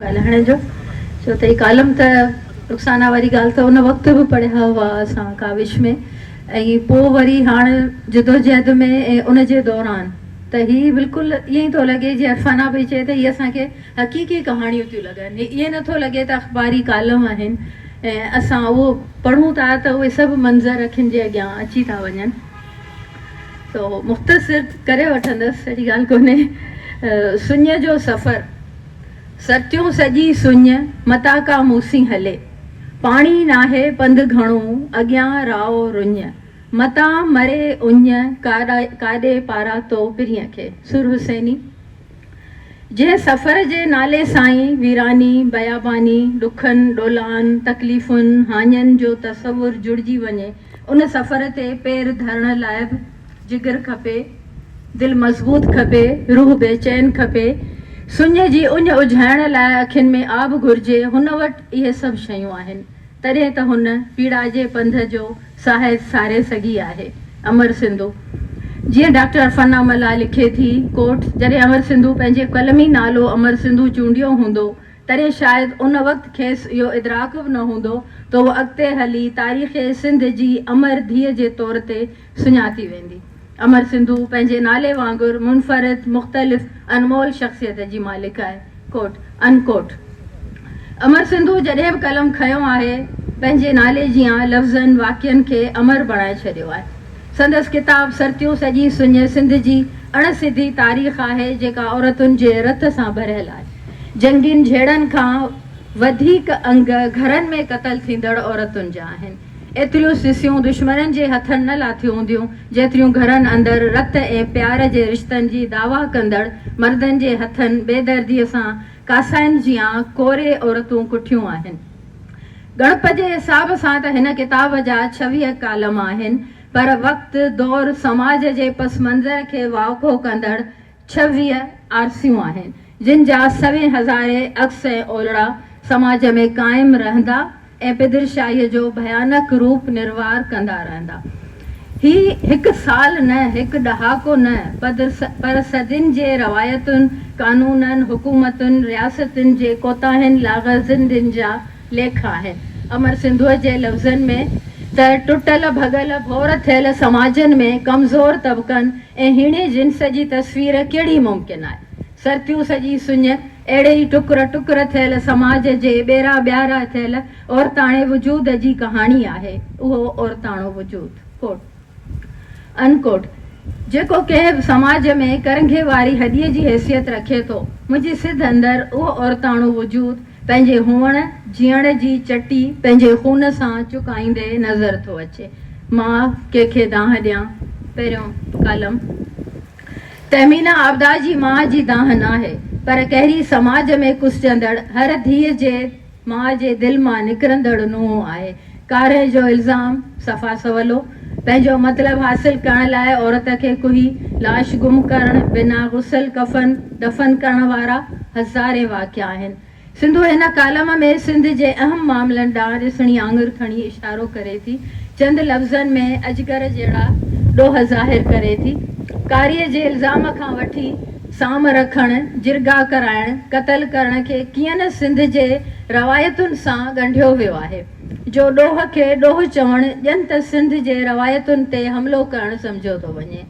ڳالهائڻ جو ڇو ته هي ڪالم ته رخسانه واري ڳالهه ته ان وقت به پڙهيا هئا اسان ڪاوش ۾ ۽ پوء وري هاڻ جدوجهد ۾ ۽ ان جي دوران ته هي بلڪل ائين ئي ٿو لڳي جيئن عرفانه پئي چئي ته هي اسان کي حقيقي ڪهاڻيون ٿيون لڳن هي ائين نه ٿو لڳي ته اخباري ڪالم آهن ۽ اسان اهو پڙهون ٿا ته اهي سڀ منظر اکين جي اڳيان اچي ٿا وڃن سو مختصر ڪري وٺندس اهڙي ڳالهه ڪونهي سڃ جو سفر. ستيون سڄي سڃ، متان ڪا موسي هلي. پاڻي ناهي پنڌ گهڻو، اڳيان راهو رڃ. متان مري اڃ، ڪاڏي پاراتو پرينء کي. سور حسيني. جنهن سفر جي نالي سائين، ويراني، بياباني، ڏکن، ڏولان، تڪليفن، هاڃن جو تصور جڙجي وڃي، ان سفر تي پير ڌرڻ لاء به جگر کپي، دل مضبوط کپي، روح بي چين کپي، سڃ جي اڃ اجهائڻ لاء اکين ۾ آب گهرجي، هن وٽ اهي سڀ شيون آهن، تڏهن ته هن پيڙائجي پنڌ جو ساهت ساري سگهي آهي. امر سنڌو. جيئن ڊاڪٽر عرفانه ملاح لکي ٿي، Quote، جڏهن امر سنڌو پنهنجي قلمي نالو امر سنڌو چونڊيو هوندو، تڏهن شايد ان وقت کيس اهو ادراڪ به نه هوندو ته هوء اڳتي هلي تاريخ سنڌ جي امر ڌيء جي طور تي سڃاتي ويندي. امر سنڌو پنهنجي نالي وانگر منفرد، مختلف، انمول شخصيت جي مالڪ آهي. Quote، Unquote، امر سنڌو جڏهن به قلم کنيو آهي، پنهنجي نالي جيان لفظن، واقعن کي امر بڻائي ڇڏيو آهي. سندس ڪتاب سرتيون سڄي سڃ سنڌ جي اڻ سڌي تاريخ آهي، جيڪا عورتن جي رت سان ڀريل آهي. جنگين جهيڙن کان وڌيڪ انگ گهرن ۾ قتل ٿيندڙ عورتن جا آهن. ايتريون سسيون دشمنن جي هٿن نه لاٿيون هونديون، جيتريون گهرن اندر رت ۽ پيار جي رشتن جي دعويٰ ڪندڙ مردن جي هٿن بي درديء سان ڪاسائن جيان ڪوري عورتون ڪٺيون آهن. ڳڻپ جي حساب سان ته هن ڪتاب جا ڇويهه ڪالم آهن، پر وقت، دور، سماج جي پس منظر کي واکو ڪندڙ ڇويهه آرسيون آهن، جن جا سوين هزارين عڪس ۽ اولڙا سماج ۾ قائم رهندا ۽ پدرشاهيء جو ڀيانڪ روپ نروار ڪندا رهندا. هي هڪ سال نه، هڪ ڏهاڪو نه، پدر پر صدين جي روايتن، قانونن، حڪومتن، رياستن جي ڪوتاهين، لاغرضين جا ليک آهي امر سنڌوء جي لفظن ۾ ته ٽٽل ڀڳل ڀور ٿيل سماجن ۾ ڪمزور طبقن ۽ هيڻي جنس جي تصوير ڪهڙي ممڪن آهي؟ سرتيوس جي سڃ اهڙي ئي ٽڪر ٽڪر ٿيل سماج جي ٻيرا ٻيارا ٿيل عورتاڻي وجود جي ڪهاڻي آهي اهو عورتاڻو وجود Quote. Unquote، جيڪو ڪنهن به سماج ۾ ڪرنگهي واري هڏيء جي حيثيت رکي ٿو. منهنجي سڌ اندر اهو عورتاڻو وجود پنهنجي هئڻ جيئڻ جي چٽي پنهنجي خون سان چڪائيندي نظر ٿو اچي. مان ڪنهن کي دانهن ڏيان؟ پهريون ڪالم تهمينا عابده جي ماء جي دانهن ناهي، پر ڪهري سماج ۾ ڪسجندڙ هر ڌيء جي ماء جي دل مان نڪرندڙ نونهن آهي. ڪارهي جو الزام صفا سولو. پنهنجو مطلب حاصل ڪرڻ لاء عورت کي ڪوهي، لاش گم ڪرڻ، بنا غسل ڪفن، دفن ڪرڻ وارا هزارين واقعا آهن. سنڌو هن ڪالم ۾ سنڌ جي اهم معاملن ڏانهن رسڻي آڱر کڻي اشارو ڪري ٿي. چند لفظن ۾ اجگر جهڙا ڏوهه ظاهر ڪري ٿي. ڪارهي جي الزام کان وٺي. سام رکڻ، جرڳا ڪرائڻ، قتل ڪرڻ کي ڪيئن نه سنڌ جي روايتن سان ڳنڍيو ويو آهي، جو ڏوهه کي ڏوهه چوڻ ڄن ته سنڌ جي روايتن تي حملو ڪرڻ سمجهيو ٿو وڃي.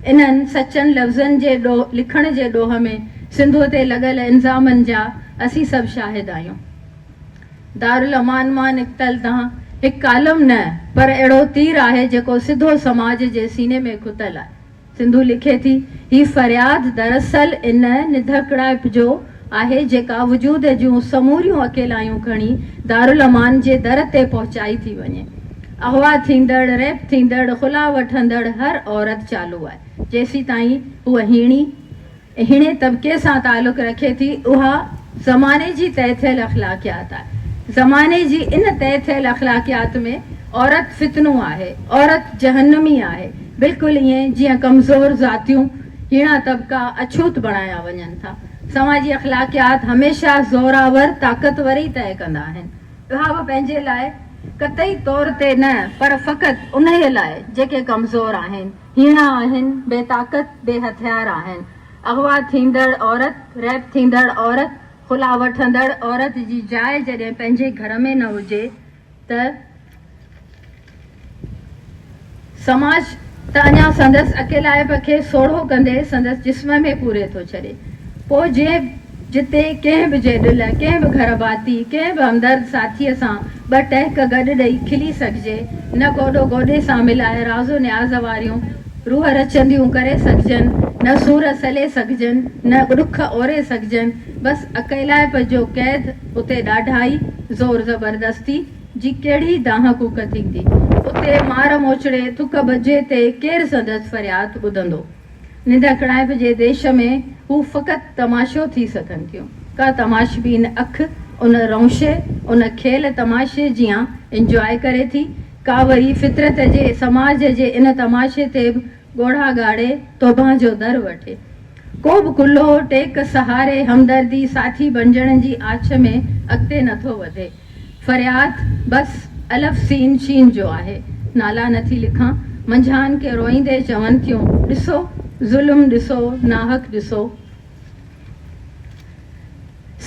انهن سچن لفظن جي لکڻ جي ڏوهه ۾ سنڌوء تي لڳل الزامن جا اسين سڀ شاهد آهيون. دارالامان مان نڪتل دانهن هڪ ڪالم نه پر اهڙو تير آهي جيڪو سڌو سماج جي سيني ۾ کتل آهي. سنڌو لکي ٿي، هي فرياد دراصل ان نڌڪڙائپ جو آهي جيڪا وجود جون سموريون اڪيلايون کڻي دارالامان جي در تي پهچائي ٿي وڃي. اغوا ٿيندڙ، ريپ ٿيندڙ، خلا وٺندڙ هر عورت چالو آهي جيسيتائين هوء هيڻي، هني طبقي سان تعلق رکي ٿي اها زماني جي طئي ٿيل اخلاقيات آهي زماني جي ان طئي ٿيل اخلاقيات ۾ عورت فتنو آهي عورت جهنمي آهي بلڪل ائين جيئن ڪمزور ذاتيون هيڻا طبقا اڇوت بڻايا وڃن ٿا سوان جي اخلاقيات هميشه زورآور طاقتور ئي طئي ڪندا آهن اها به پنهنجي لاء قطعي طور تي نه پر فقط انهي لاء جيڪي ڪمزور آهن. هيڻا آهن، بي طاقت، بي هٿيار آهن. اغوا ٿيندڙ عورت، ريپ ٿيندڙ عورت، خلا وٺندڙ عورت جي جاء جڏهن پنهنجي گهر ۾ نه هجي ته سماج ته اڃا سندس اڪيلائپ کي سوڙهو ڪندي سندس جسم ۾ پوري ٿو ڇڏي. پوء جي جتي ڪنهن به جيڏل، ڪنهن به گهر ڀاتي، ڪنهن به همدرد ساٿيء سان ٻه ٽهڪ گڏ ڏئي کلي سگهجي، نه گوڏو گوڏي سان ملائي راز و نياز واريون روح رچنديون ڪري سگهجن، نه سور سلي سگهجن، نه ڏک اوري سگهجن، بس اڪيلائپ جو قيد اتي ڏاڍائي، زور زبردستي، جي ڪهڙي دانهن ڪوڪ ٿيندي؟ اتي مار موچڙي، ٿڪ ٻجهي تي ڪير سندس فرياد ٻڌندو؟ ننڊ اڪڙائپ جي ديش ۾ هو فقط تماشو ٿي سگهن ٿيون. ڪا تماشبين اک ان رئونشي، ان کيل تماشي جيان انجواء ڪري ٿي، ڪا وري فطرت جي سماج جي ان تماشي تي به ڳوڙها ڳاڙي توبهه جو در وٺي. ڪو به ڪلهو، ٽيڪ، سهاري، همدردي، ساٿي بڻجڻ جي آڇ ۾ اڳتي نٿو وڌي. فرياد بس الف سين شين جو آهي نالا نه ٿي لکان منجهان ڪي روئيندي چون ٿيون ڏسو ظلم ڏسو ناحق ڏسو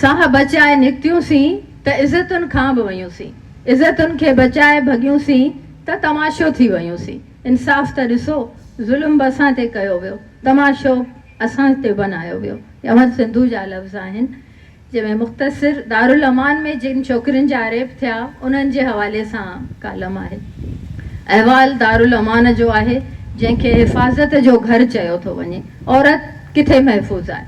ساهه بچائي نڪتيون سين ته عزتن کان به ويون سين عزتن کي بچائي ڀڳيون سين ته تماشو ٿي ويون سين انصاف ته ڏسو ظلم به اسان تي ڪيو ويو تماشو اسان تي بنايو ويو امر سنڌو جا لفظ آهن. جنهن ۾ مختصر دارالامان ۾ جن ڇوڪرين جا ريپ ٿيا انهن جي حوالي سان ڪالم آهي. احوال دارالامان جو آهي جنهن کي حفاظت جو گهر چيو ٿو وڃي. عورت ڪٿي محفوظ آهي؟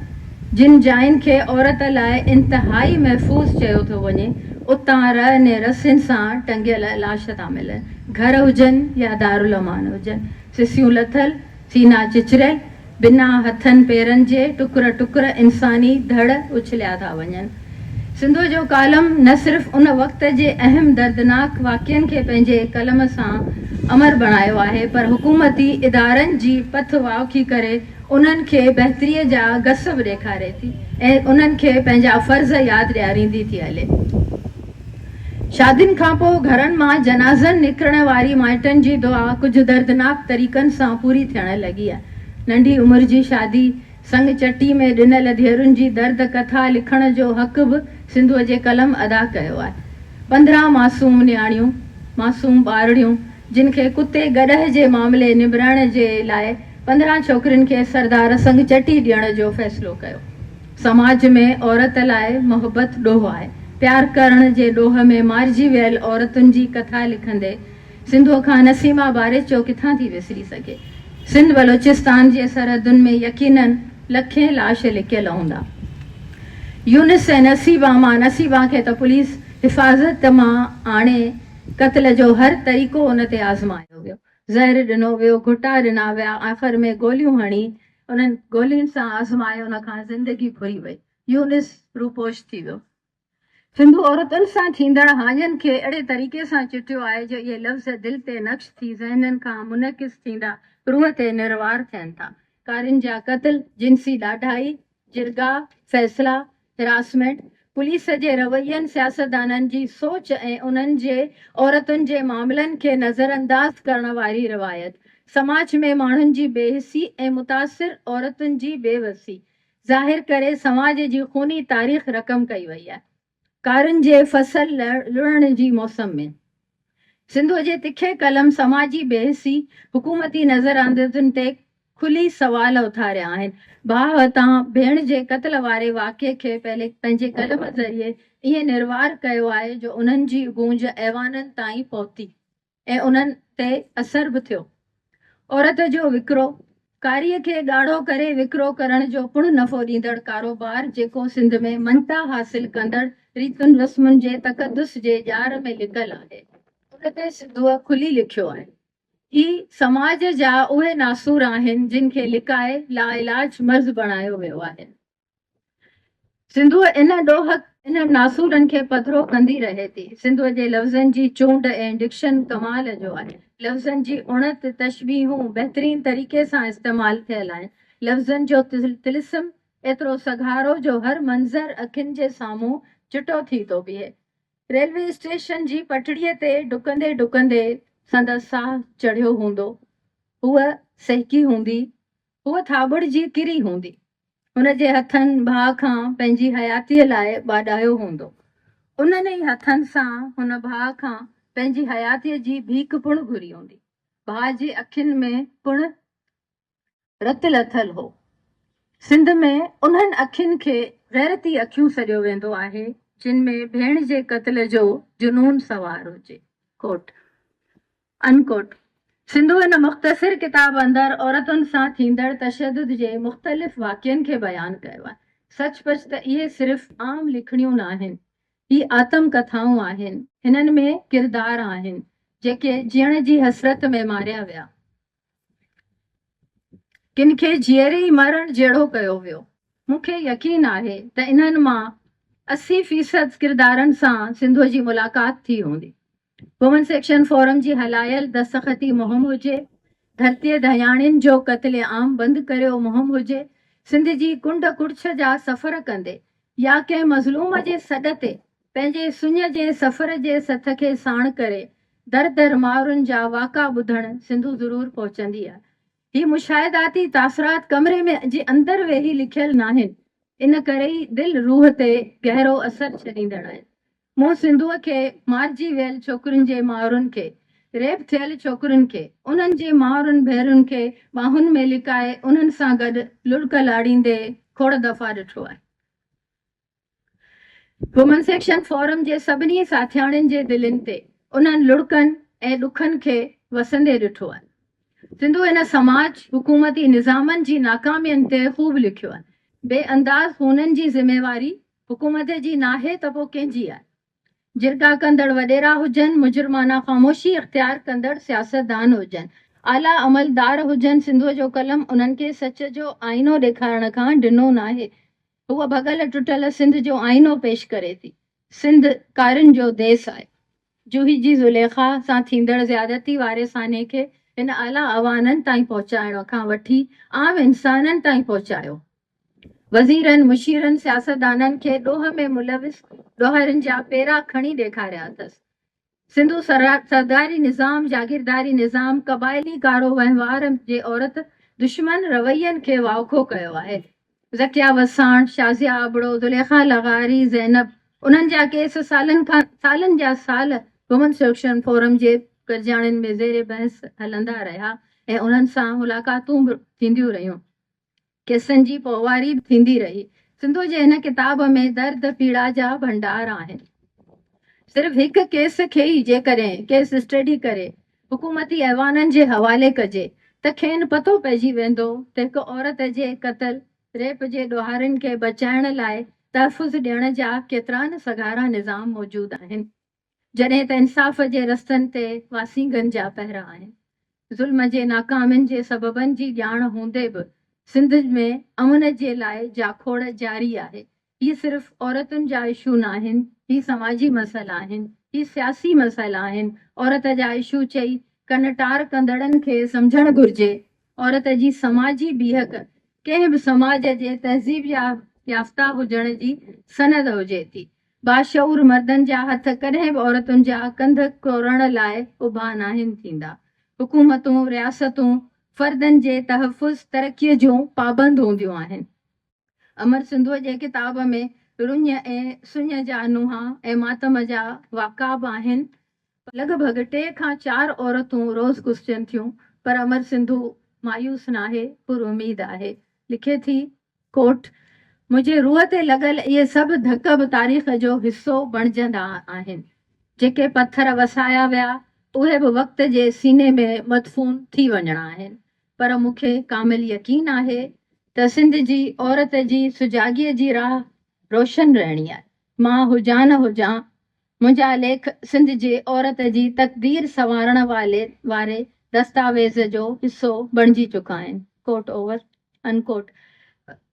جن جاين کي عورت لاء انتهائي محفوظ چيو ٿو وڃي اتان رئه ني رسين سان ٽنگيل لاش ٿا ملن. گهر هجن يا دارالامان هجن سسيون لٿل سينا چچريل، بنا هٿن پيرن جي ٽڪر ٽڪر انساني ڌڙ اڇليا ٿا وڃن. سنڌوء جو ڪالم نه صرف ان وقت جي اهم دردناڪ واقعن کي پنهنجي قلم سان امر بڻايو آهي پر حڪومتي ادارن جي پٿ واوکي ڪري انهن کي بهتريء جا گس به ڏيکاري ٿي ۽ انهن کي پنهنجا فرض ياد ڏياريندي ٿي هلي. شادين کانپوء گهرن مان جنازن نڪرڻ واري مائٽن جي دعا ڪجهه دردناڪ طريقن سان پوري ٿيڻ لڳي. ننڍي عمر جي شادي سڱ چٽي ۾ ڏنل ڌيئرن جي درد ڪٿا لکڻ جو حق به سنڌوء جي قلم ادا ڪيو آهي. پندرهن معصوم نياڻيون، معصوم ٻارڙيون، جن کي ڪتي گڏهه جي معاملي نبرائڻ جي لاء پندرهن ڇوڪرين کي سردار سڱ چٽي ڏيڻ جو فيصلو ڪيو. سماج ۾ عورت لاء محبت ڏوهه آهي. پيار ڪرڻ جي ڏوهه ۾ مارجي ويل عورتن جي ڪٿا لکندي سنڌوء کان نسيما باريچو ڪٿان ٿي وسري سگهي. سنڌ بلوچستان جي سرحدن ۾ يقينن لکين لاش لڪيل هوندا. يونس ۽ نسيما مان نسيما کي ته پوليس حفاظت مان آڻي قتل جو هر طريقو ان تي آزمايو ويو. زهر ڏنو ويو، گهٽا ڏنا ويا، آخر ۾ گوليون هڻي انهن گولين سان آزمائي ان کان زندگي ڦري وئي. يونس روپوش ٿي ويو. سنڌو عورتن سان ٿيندڙ هاڃين کي اهڙي طريقي سان چٽيو آهي جو اهي لفظ دل تي نقش ٿي ذهنن کان منعڪس ٿيندا روح تي نروار ٿين ٿا. ڪارين جا قتل، جنسي ڏاڍائي، جرڳا، فيصلا، هراسمينٽ، پوليس جي روين، سياستدانن جي سوچ ۽ انهن جي عورتن جي معاملن کي نظرانداز ڪرڻ واري روايت، سماج ۾ ماڻهن جي بي حسي ۽ متاثر عورتن جي بي وسي ظاهر ڪري سماج جي خوني تاريخ رقم ڪئي وئي آهي. ڪارن جي فصل لڻڻ جي موسم ۾، سنڌوء جي تکي قلم سماجي بيحسي، حڪومتي نظراندازن تي کلي سوال اٿاريا آهن. ڀاء تان ڀيڻ جي قتل واري واقعي کي پنهنجي قلم ذريعي ائين نروار ڪيو آهي جو انهن جي گونج ايوانن تائين پهتي ۽ انهن تي اثر به ٿيو. عورت جو وڪرو، کاري کي ڳاڙهو ڪري وڪرو ڪرڻ جو پڻ نفعو ڏيندڙ ڪاروبار جيڪو سنڌ ۾ مڃتا حاصل ڪندڙ ريتن رسمن جي تقدس جي ڄار ۾ لڪل آهي ان تي سنڌوء کلي لکيو آهي هي سماج جا اهي ناسور آهن جن کي لڪائي لاعلاج مرض بڻايو ويو آهي. سنڌوء ان ڏوهه انهن ناسورن کي پڌرو ڪندي رهي ٿي. سنڌوء جي لفظن جي چونڊ ۽ ڊڪشن ڪمال جو آهي. لفظن جي اڻت، تشبيهون، بهترين طريقي سان استعمال ٿيل آهن. لفظن جو طلسم ايترو سگهارو جو هر منظر اکين جي سامهون چٽو ٿي ٿو بيهي. ريلوي اسٽيشن جي پٽڙيء تي ڊڪندي ڊڪندي سندس ساهه چڙهيو هوندو. هوء سهڪي هوندي. هوء ٿاٻڙجي ڪري هوندي. ان جي هٿن ڀاء کان پنهنجي حياتيء لاء ٻاڏايو هوندو. انهن ئي هٿن سان هن ڀاء کان پنهنجي حياتيء جي ڀيڪ پڻ گهري هوندي. ڀاء جي اکين ۾ پڻ رت لٿل هو. سنڌ ۾ انهن اکين کي غيرتي اکيون سڏيو ويندو آهي، جن ۾ ڀيڻ جي قتل جو جنون سوار هجي. ڪوٽ. Unquote. سنڌو هن مختصر ڪتاب اندر عورتن سان ٿيندڙ تشدد جي مختلف واقعن کي بيان ڪيو آهي. سچ پچ ته اهي صرف عام لکڻيون ناهن. هي آتم ڪٿائون آهن. هنن ۾ ڪردار آهن، جيڪي جيئڻ جي حسرت ۾ ماريا ويا. ڪن کي جيئري ئي مرڻ جهڙو ڪيو ويو. مون کي يقين آهي ته انهن مان اسي فيصد ڪردارن سان سنڌوء جي ملاقات ٿي هوندي. وومن سيڪشن فورم جي هلايل دستخطي مهم هجي، ڌرتيء ڌياڻين جو قتل عام بند ڪريو مهم هجي، سنڌ جي ڪنڊ ڪڙڇ جا سفر ڪندي يا ڪنهن مظلوم جي سڏ تي پنهنجي سڃ جي سفر جي سٿ کي ساڻ ڪري در در مائرن جا واڪا ٻڌڻ سنڌو ضرور پهچنديء. هي مشاهداتي تاثرات ڪمري ۾ جي اندر ويهي لکيل ناهن، ان ڪري ئي دل روح تي گهرو اثر ڇڏيندڙ آهن. مون سنڌوء کي، مارجي ويل ڇوڪرين جي مائرن کي، ريپ ٿيل ڇوڪرين کي، انهن جي مائرن ڀيرين کي ٻانهن ۾ لڪائي انهن سان گڏ لڙڪ لاڙيندي کوڙ دفعا ڏٺو آهي. وومن سيڪشن فورم جي سڀني ساٿياڻين جي دلين تي انهن لڙڪن ۽ ڏکن کي وسندي ڏٺو آهي. سنڌو هن سماج حڪومتي نظامن جي ناڪامين تي خوب لکيو آهي. بي انداز خونن جي ذميواري حڪومت جي ناهي ته پوء ڪنهن جي آهي؟ جرڳا ڪندڙ وڏيرا هجن، مجرمانه خاموشي اختيار ڪندڙ سياستدان هجن، اعليٰ عملدار هجن سنڌو جو قلم انهن کي سچ جو آئينو ڏيکارڻ کان ڊنو ناهي. هوء ڀڳل ٽٽل سنڌ جو آئينو پيش ڪري ٿي. سنڌ ڪارين جو ديس آهي. جوهي جي زليخا سان ٿيندڙ زيادتي واري سانحي کي هن اعليٰ اعوانن تائين پهچائڻ کان وٺي عام انسانن تائين پهچايو. وزيرن، مشيرن، سياستدانن کي ڏوهه ۾ ملوث ڏوهارين جا پيرا کڻي ڏيکاريا اٿس. سنڌو سرداري نظام، جاگيرداري نظام، قبائلي ڪارو وهنوار جي عورت دشمن روين کي واکو ڪيو آهي. ذڪيه وساڻ، شازيه آبڙو، زليخا لغاري، زينب انهن جا ڪيس سالن کان سالن جا سال وومن سليڪشن فورم جي گڏجاڻين ۾ زير بحث هلندا رهيا ۽ انهن سان ملاقاتون به ٿينديون رهيون. قصن جي پوئواري به ٿيندي رهي. سنڌوء جي هن ڪتاب ۾ درد پيڙا جا ڀنڊار آهن. صرف هڪ ڪيس کي ئي جيڪڏهن ڪيس اسٽڊي ڪري حڪومتي ايوانن جي حوالي ڪجي ته کين پتو پئجي ويندو ته هڪ عورت جي قتل، ريپ جي ڏوهارين کي بچائڻ لاء تحفظ ڏيڻ جا ڪيترا نه سگهارا نظام موجود آهن. جڏهن ته انصاف جي رستن تي واسينگن جا پهرا آهن. ظلم جي ناڪامين جي سببن جي ڄاڻ هوندي به سنڌ ۾ امن جي لاء جاکوڙ جاري آهي. هي صرف عورتن جا اشو ناهن، هي سماجي مسئلا آهن، هي سياسي مسئلا آهن، عورت جا اشو چئي ڪن ٽار ڪندڙن کي سمجهڻ گهرجي عورت جي سماجي بيهڪ ڪنهن به سماج جي تهذيب يافته هجڻ جي سند هجي ٿي باشعور مردن جا هٿ ڪڏهن به عورتن جا ڪنڌ ڪوڙڻ لاء اڀا ناهن ٿيندا. حڪومتون، رياستون فردن جي تحفظ، ترقيء جون پابند هونديون آهن. امر سنڌوء جي ڪتاب ۾ رڃ ۽ سڃ جا نونهان ۽ ماتم جا واقعا به آهن. لڳ ڀڳ ٽي کان چار عورتون روز گسجن ٿيون، پر امر سنڌو مايوس ناهي، پر اميد آهي. لکي ٿي Quote، منهنجي روح تي لڳل اهي سڀ ڌڪ به تاريخ جو حصو بڻجندا آهن. جيڪي پٿر وسايا ويا، اهي به وقت جي سيني ۾ مدفون ٿي وڃڻا آهن، پر مون کي ڪامل يقين آهي ته سنڌ جي عورت جي سجاڳيء جي راهه روشن رهڻي آهي. مان هجان نه هجان، منهنجا ليک سنڌ جي عورت جي تقدير سنوارڻ والي واري دستاويز جو حصو بڻجي چڪا آهن. Quote Over. Unquote.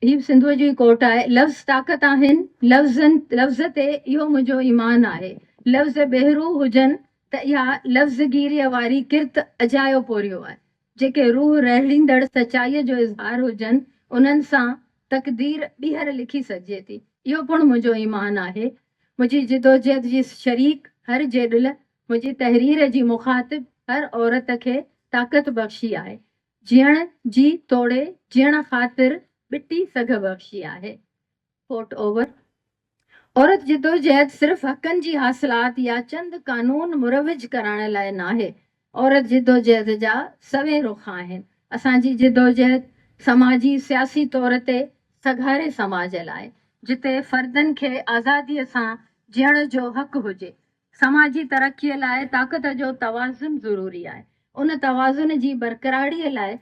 هي به سنڌوء جو ئي ڪوٽ آهي. لفظ طاقت آهن. لفظن لفظ تي اهو منهنجو ايمان آهي. لفظ بهروح هجن ته اها لفظگيريء واري ڪرت اجايو پورهيو آهي. جيڪي روح رهڙيندڙ سچائيء جو اظهار هجن، انهن سان تقدير ٻيهر لکي سگهجي ٿي. اهو پڻ منهنجو ايمان آهي. منهنجي جدوجهد جي شريڪ هر جيڏل، منهنجي تحرير جي مخاطب هر عورت کي طاقت بخشي آهي. جيئڻ جي توڙي جيئڻ خاطر ٻٽي سگهه بخشي آهي. Quote Over. عورت جدوجهد صرف حقن جي حاصلات يا چند قانون مروج ڪرائڻ لاء ناهي. عورت جدوجهد جا سوين رخ آهن. اسان جي جدوجهد سماجي سياسي طور تي سگهاري سماج لاء، جتي فردن کي آزاديء سان جيئڻ جو حق هجي. سماجي ترقيء لاء طاقت جو توازن ضروري آهي. ان توازن جي برقراريء لاء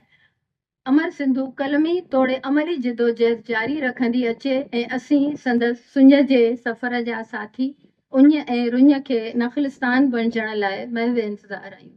امر سنڌو قلمي توڙي عملي جدوجهد جاري رکندي اچي ۽ اسين سندس سڃ جي سفر جا ساٿي اڃ ۽ رڃ کي نخلستان بڻجڻ لاء محو انتظار آهيون.